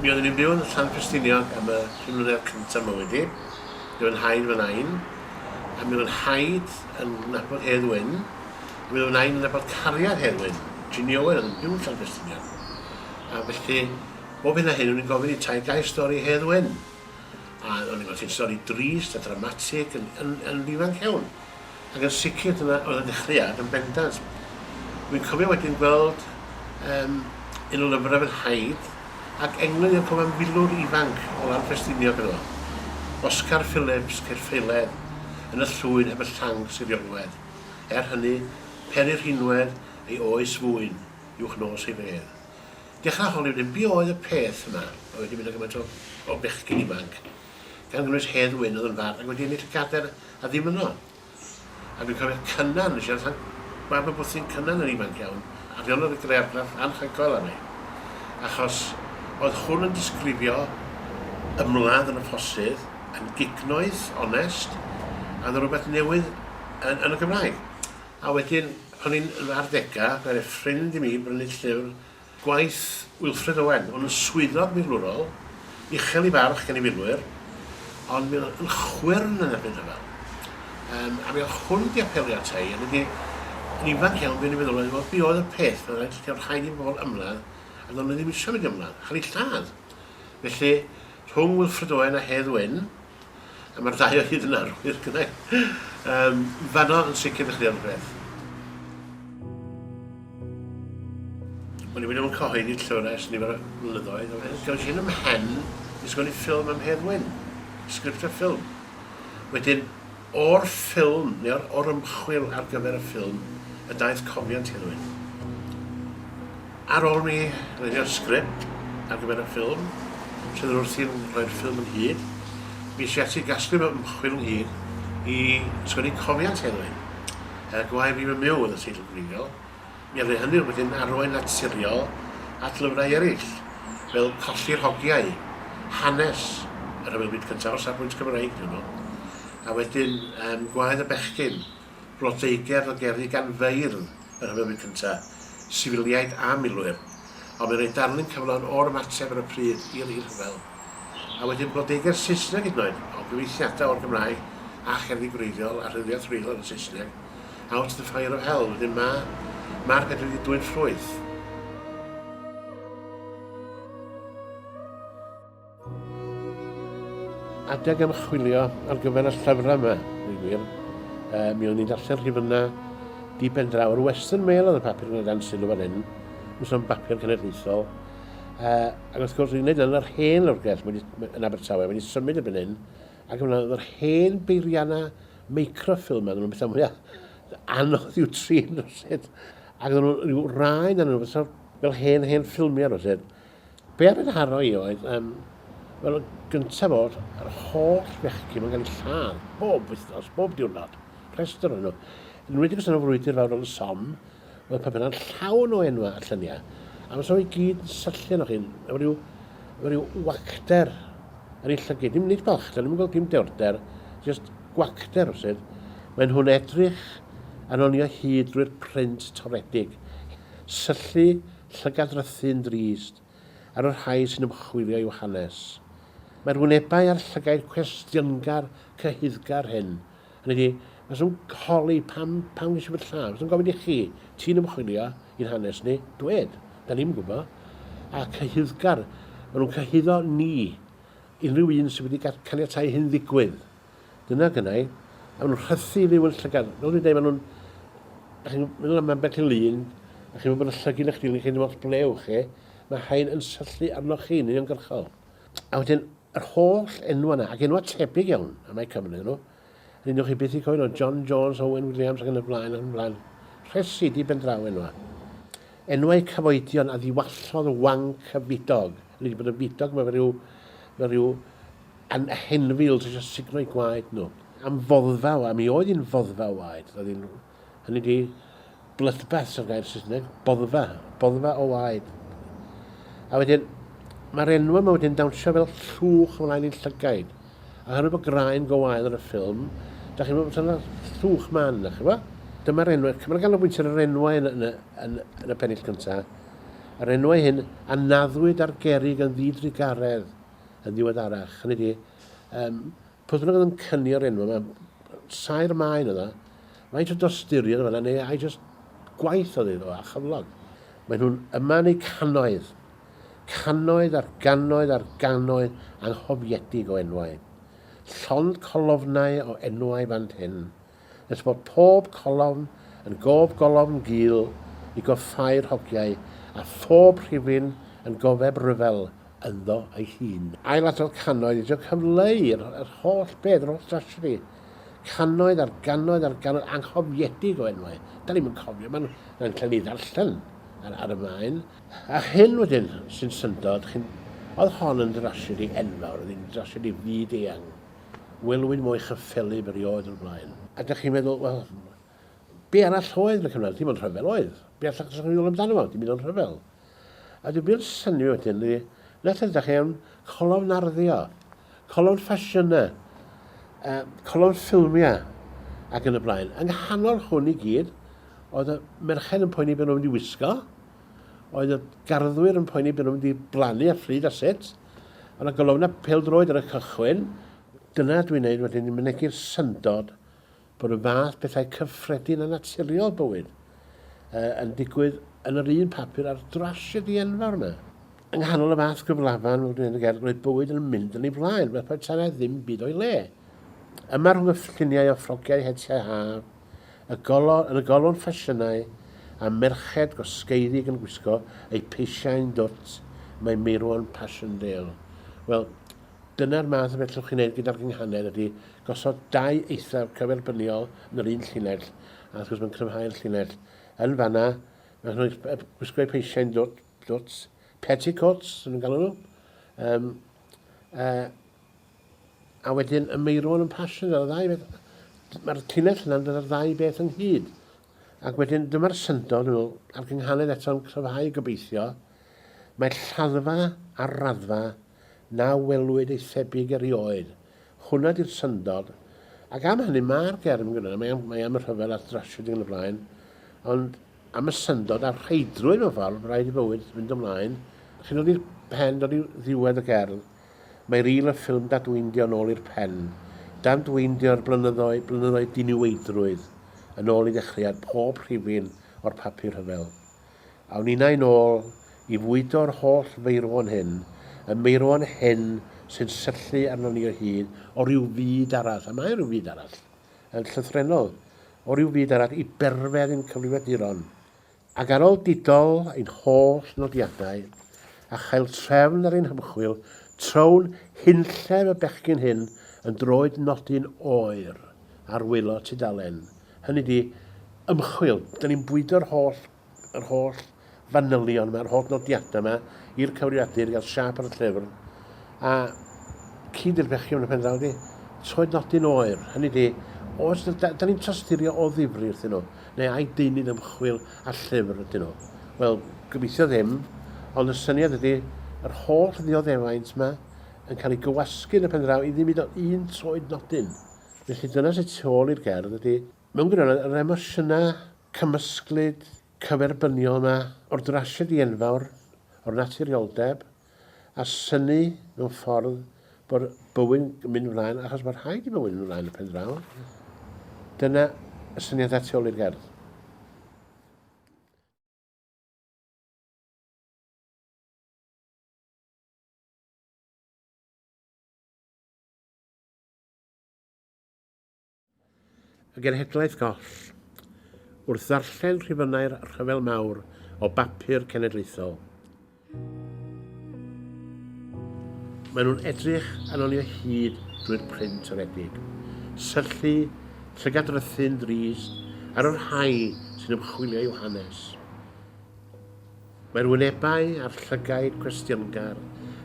Mi oeddwn i'n byw yn San Ffestiniog am y pum mlynedd cynta' mywyd i. Mi oedd fy nhaid, fy nain, a mi oedd fy nhaid yn nabod Hedd Wyn, a mi oedd fy nain yn nabod cariad Hedd Wyn, Ginny Owen, oedd yn byw yn San Ffestiniog. A felly, bob hyn a hyn, o'n i'n gofyn i taid gael stori Hedd Wyn. A o'n i'n gweld hi'n stori drist a dramatig yn, yn, yn ifanc iawn. ac yn sicr dyna oedd y dechreuad yn bendant. Rwy'n cofio wedyn gweld um, un o lyfrau fy nhaid ac englyn i'r cofan filwr ifanc o lan Ffestiniog yn yno. Oscar Phillips, Caerffeiledd, yn y llwyn heb y llanc siriolwedd. Er hynny, peri rhinwedd ei oes fwyn uwch nos ei fedd. Dechrau holi wedyn, be oedd y peth yma? Mae wedi mynd â gymaint o, o bechgyn ifanc. gan gynnwys Hedd Wyn oedd yn fardd ac wedi ennill y cadair a ddim yno. A dwi'n cofio Cynan yn siarad am mab y bwthyn Cynan yn ifanc iawn a fe onodd y grearddraff anhygoel ar ei achos oedd hwn yn disgrifio ymladd yn y ffosydd yn gignoeth, onest a oedd yn rhywbeth newydd yn, yn y Gymraeg. A wedyn pan o'n i'n yn fy arddegau fe aeth ffrind i mi brynu llyfr Gwaith Wilfred Owen, hwn yn swyddog milwrol, uchel i barch gan ei filwyr, ond mi oedd yn chwyrn yn erbyn rhyfel. Yym, a mi oedd hwn wedi apelio ata i, a mi wedi, yn ifanc iawn, fu'n i feddwl oedd, wel, be oedd y peth? Mae'n rhaid, ti'n rhaid i bobl ymladd, a do'n nhw ddim eisiau mynd i ymladd, chael eu lladd. Felly, rhwng Wilfred Owen a Hedd Wyn, A mae'r ddau o hyd yn arwyr, gyda i. Um, fanno yn sicr ddechrau o'n rhywbeth. Wel, i wedi bod yn cyhoeddi llwyr ers nifer o flynyddoedd. Gael sy'n ym hen i sgwennu ffilm am Hedd Wyn. Sgript a ffilm. Wedyn, o'r ffilm neu o'r ymchwil ar gyfer y ffilm y daeth cofiant i rywun. Ar ôl mi lunio'r sgript ar gyfer y ffilm, sydd yr wrth i'n rhoi'r ffilm ynghyd, mi es i ati i gasglu fy ymchwil ynghyd i sgwennu cofiant i rywun. Yy, Gwae fi fy myw oedd y teitl gyfrifol. Mi oedd hynny wedyn arwain naturiol at lyfrau eraill, fel Colli'r Hogiau, hanes y Rhyfel Byd Cyntaf, o safbwynt Cymreig ydyn nhw, a wedyn yym Gwaed y Bechgyn, blodeugerdd o gerddi gan feirdd y Rhyfel Byd Cyntaf, sifiliaid a milwyr, ond mae'n rhoi darlun cyflawn o'r ymateb ar y pryd i'r i'r rhyfel. A wedyn blodeugerdd Saesneg hyd yn oed, o gyfieithiadau o'r Gymraeg a cherddi gwreiddiol a rhyddhau trwylo yn y Saesneg. Out the fire of hell, wedyn ma' ma'r peth wedi dwyn ffrwyth. Adeg ymchwilio ar gyfer y llyfrau yma, dwi'n gwir, e, mi o'n i'n darllen rhifynnau di ben draw. Yr Western Mail oedd y papur yn y dan sylw fan hyn, yn sôn bapur cenedlaethol. E, ac wrth gwrs, dwi'n gwneud yn yr hen lwrgell yn Abertawe, wedi symud y byn hyn, ac yna oedd yr hen beirianna microfilm a nhw'n bethau mwyaf anodd i'w trin rhywsyd. Ac oedden nhw rhyw rai na nhw fel, fel hen hen ffilmiau rhywsyd. Be a fe'n haro i oedd, um, wel, gyntaf o'r yr holl fechgyn yn cael ei lladd, bob wythnos, bob diwrnod, rhestr o'n nhw. Yn wedi gos yn y frwydr fawr o'n som, Oedd y papurau'n llawn o enwau a lluniau. A fysa nhw i gyd yn syllu arnoch chi, efo rhyw, efo rhyw wacter yn ei llygyd. Dim nid balchder, ddim yn gweld dim dewrder, just gwacter rhywsut. Maen nhw'n edrych yn honni o hyd drwy'r print toredig. Syllu, llygad-drythu yn drist ar y rhai sy'n ymchwilio i'w hanes. Mae'r wynebau a'r llygaid cwestiyngar, cyhuddgar hyn Hynny ydi, faswn holi pam, pam ges i fy lladd. Faswn gofyn i chi, ti'n ymchwilio i'n hanes ni? Dwed, da ni'm yn gwybod. A cyhuddgar, maen nhw'n cyhuddo ni, unrhyw un sydd wedi caniatau hyn ddigwydd. Dyna gynnau, a maen nhw'n rhythu i fyw yn llygad. Fel dwi'n dweud, maen nhw'n... Da chi'n meddwl am ambell i lun, a chi'n meddwl bod y llygyn eich dilyn chi ddim ots ble ewch chi, mae rhain yn syllu arnoch chi'n uniongyrchol. A wedyn yr holl enwau 'na, ac enwau tebyg iawn, a mae Cymru ddyn nhw. Yr un o'ch chi byth i cofio nhw, John Jones, Owen Williams ac yn y blaen ac yn y blaen. Rhesi di ben draw enwau. Enwau cyfoedion a ddiwallodd y wanc y fidog. Yn wedi bod yn fidog, mae fe rhyw, mae rhyw an henfil sy'n eisiau signo'i gwaed nhw. Am foddfa, a mi oedd hi'n foddfa waed, roedd hi'n Hynny ydi, bloodbaths o'r gair Saesneg, boddfa, boddfa o waed. A wedyn, mae'r enw yma wedyn dawnsio fel llwch ymlaen i'n llygaid. A hynny bod graen go wael yn y ffilm, da chi'n meddwl bod yna llwch man, da chi'n meddwl? Dyma'r enw, cymryd ganolbwynt ar yr enwau yn, yn, yn, yn y pennill cyntaf. Yr enwau hyn a naddwyd ar gerig yn ddidrugaredd yn ddiweddarach. Hynny di, um, Pwy bynnag oedd yn cynio'r enw yma, saer maen yna, faint o dosturiad yma, neu I just gwaith oedd iddo a chyflog. Mae nhw'n yma yn eu cannoedd, cannoedd ar gannoedd ar gannoedd anghofiedig o enwau. Llond colofnau o enwau fan hyn, nes bod pob colofn yn gof golofn gul i goffáu'r hogiau a phob rhifyn yn gofeb ryfel ynddo ei hun. Ailadrodd cannoedd i drio cyfleu yr yr holl beth, yr holl drasiedi. Cannoedd ar gannoedd ar gannoedd anghofiedig o enwau. Da ni'm yn cofio, mae'n mae'n cael ei ddarllen ar, ar y maen. A hyn wedyn sy'n syndod, chi'n... oedd hon yn drasiedi enfawr, oedd hi'n drasiedi fyd-eang. Welwyn mwy chyffelyb erioed o'r blaen. A dych chi'n meddwl, wel, be arall oedd yn y cyfnod? Dim ond rhyfel oedd. Be allach ddysgu meddwl amdano fo? Dim ond rhyfel. A dwi'n byr syni fi wedyn, ydy, nath ydych chi am colofn narddio, colofn ffasiynau, uh, colofn ffilmiau, ac yn y blaen. Yng nghanol hwn i gyd, oedd y merched yn poeni beth nhw'n mynd i wisgo, oedd y garddwyr yn poeni beth nhw'n mynd i blannu a phryd a sut. Ond y golofna na peldroed ar y cychwyn. Dyna dwi'n neud wedyn, ni'n mynegi'r syndod bod y fath bethau cyffredin a naturiol bywyd uh, yn digwydd yn yr un papur a'r drasiedi enfawr yma. Yng nghanol y fath gyflafan, fel dwi'n gael, roedd bywyd yn mynd yn ei flaen, fel petai na ddim byd o'i le. Yma rhwng y lluniau o ffrogiau hetiau haf, y golofn, yn y golofn ffasiynau, a merched gwasgeiddig yn gwisgo eu peisiau'n dwt, mae Meirwon Passchendaele. Wel, dyna'r math o beth llwch chi'n neud gyda'r gynghanedd ydy gosod dau eithaf cyferbyniol yn yr un llinell, a wrth gwrs mae'n cryfhau'r llinell. Yn fanna, mae nhw'n gwisgo eu peisiau'n dwt, dwt, petticoats, nhw'n galw nhw. Um, uh, A wedyn y meirwon yn pasio ar y ddau beth. Mae'r tunnell yna'n dod â'r ddau beth ynghyd. Ac wedyn dyma'r syndod, dwi'n meddwl, a'r gynghanedd eto'n cryfhau gobeithio, mae lladdfa ar raddfa na welwyd ei thebyg erioed. Hwnna di'r syndod. Ac am hynny, mae'r gerdd yn gwneud, mae am, mae am y rhyfel a'r drasiedi yn y blaen, ond am y syndod a'r rheidrwydd o farw bod rhaid i fywyd fynd ymlaen, sy'n dod i'r pen dod i ddiwedd y gerdd. Mae ril y ffilm dadweindio yn ôl i'r pen, dadweindio'r blynyddoedd, blynyddoedd diniweidrwydd, yn ôl i ddechreuad pob rhifyn o'r papur rhyfel. Awn ninnau'n ôl i fwydo'r holl feirwon hyn, y meirwon hyn sy'n syllu arnon ni o hyd, o ryw fyd arall, a mae rhyw fyd arall, yn llythrennol o ryw fyd arall i berfedd ein cyfrifiaduron, ac ar ôl didol ein holl nodiadau, a chael trefn ar ein hymchwil, trown hunllef y bechgyn hyn yn droed nodi'n oer ar wylo tudalen, hynny ydi, ymchwil, 'da ni'n bwydo'r holl yr holl fanylion yma, yr holl nodiadau yma i'r cyfrifiadur, gael siap ar y llyfr, a cyd i'r pechion y pen draw di, toed nodyn oer, hynny di, os da, da, da ni'n tosturio o ddifri wrthyn nhw, neu ai deunydd ymchwil a llyfr ydyn nhw. Wel, gobeithio ddim, ond y syniad ydy yr holl ddioddefaint yma yn cael ei gywasgu yn y pen draw i ddim hyd o un toed nodyn. Felly dyna sy'n tu ôl i'r gerdd ydy Mewn gwirionedd, yr emosiynau cymysglyd cyferbyniol yma o'r drasiedi enfawr, o'r naturioldeb, a synnu mewn ffordd bod bywyd yn mynd ymlaen achos bod rhaid i bywyd mynd ymlaen y pen draw, dyna y syniadau tu ôl i'r gerdd. Y genhedlaeth goll. Wrth ddarllen rhifynnau'r Rhyfel Mawr o bapur cenedlaethol, maen nhw'n edrych yn ôl i'r hyd drwy'r print aredig, syllu, llygadrythu'n ddrist ar y rhai sy'n ymchwilio i'w hanes. Mae'r wynebau a'r llygaid cwestiyngar,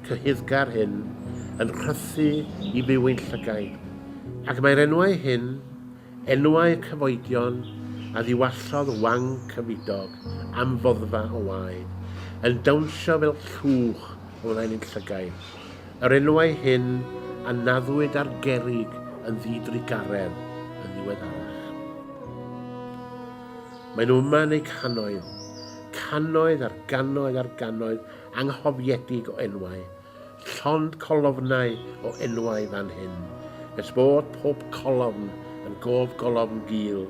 cyhuddgar hyn yn rhythu i fyw ein llygaid, ac mae'r enwau hyn, enwau y cyfoedion a ddiwallodd Wang Cyfidog am foddfa o waed, yn dawnsio fel llwch o flaen ein llygaid, yr enwau hyn a naddwyd ar gerrig yn ddidrugaredd yn ddiweddarach. Maen nhw yma yn eu cannoedd, cannoedd ar gannoedd ar gannoedd anghofiedig o enwau, llond colofnau o enwau fan hyn, nes bod pob colofn yn gof golofn gul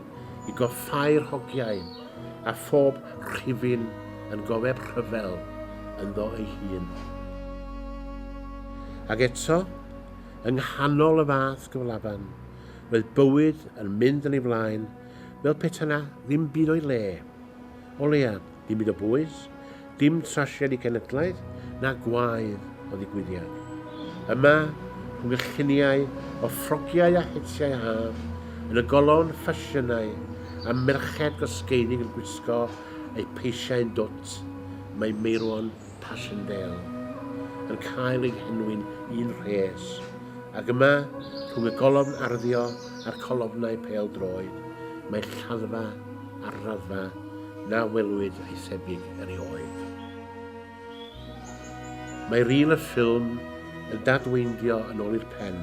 i goffáu'r hogiau, a phob rhifyn yn gofeb rhyfel ynddo ei hun. Ac eto, yng nghanol y fath gyflafan, roedd bywyd yn mynd yn ei flaen, fel peta 'na ddim byd o'i le. O leia, dim byd o bwys, dim trasiedi cenedlaeth na gwaedd o ddigwyddiad. Yma, rhwng y lluniau o ffrogiau a hetiau haf, yn y golofn ffasiynau a merched gosgeiddig yn gwisgo eu peisiau'n dwt, mae Meirwon Passchendaele, yn cael ei henwi'n un rhes, ac yma, rhwng y golofn arddio a'r colofnau pêl-droed, mae lladdfa ar raddfa na welwyd ei thebyg erioed. Mae ril y ffilm yn dadweindio yn ôl i'r pen,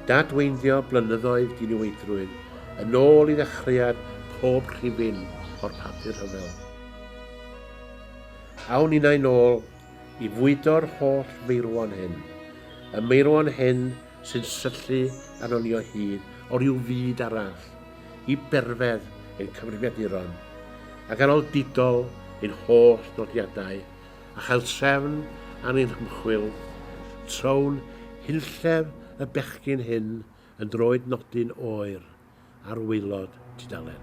dadweindio blynyddoedd diniweidrwydd yn ôl i ddechreuad pob rhifyn o'r papur rhyfel. Awn innau nôl i fwydo'r holl feirwon hyn, y meirwon hyn sy'n syllu arnon ni o hyd o ryw fyd arall, i berfedd ein cyfrifiaduron, a ganol didol ein holl nodiadau, a chael trefn ar ein hymchwil, trown hunllef y bechgyn hyn yn droed nodyn oer. ar waelod tudalen.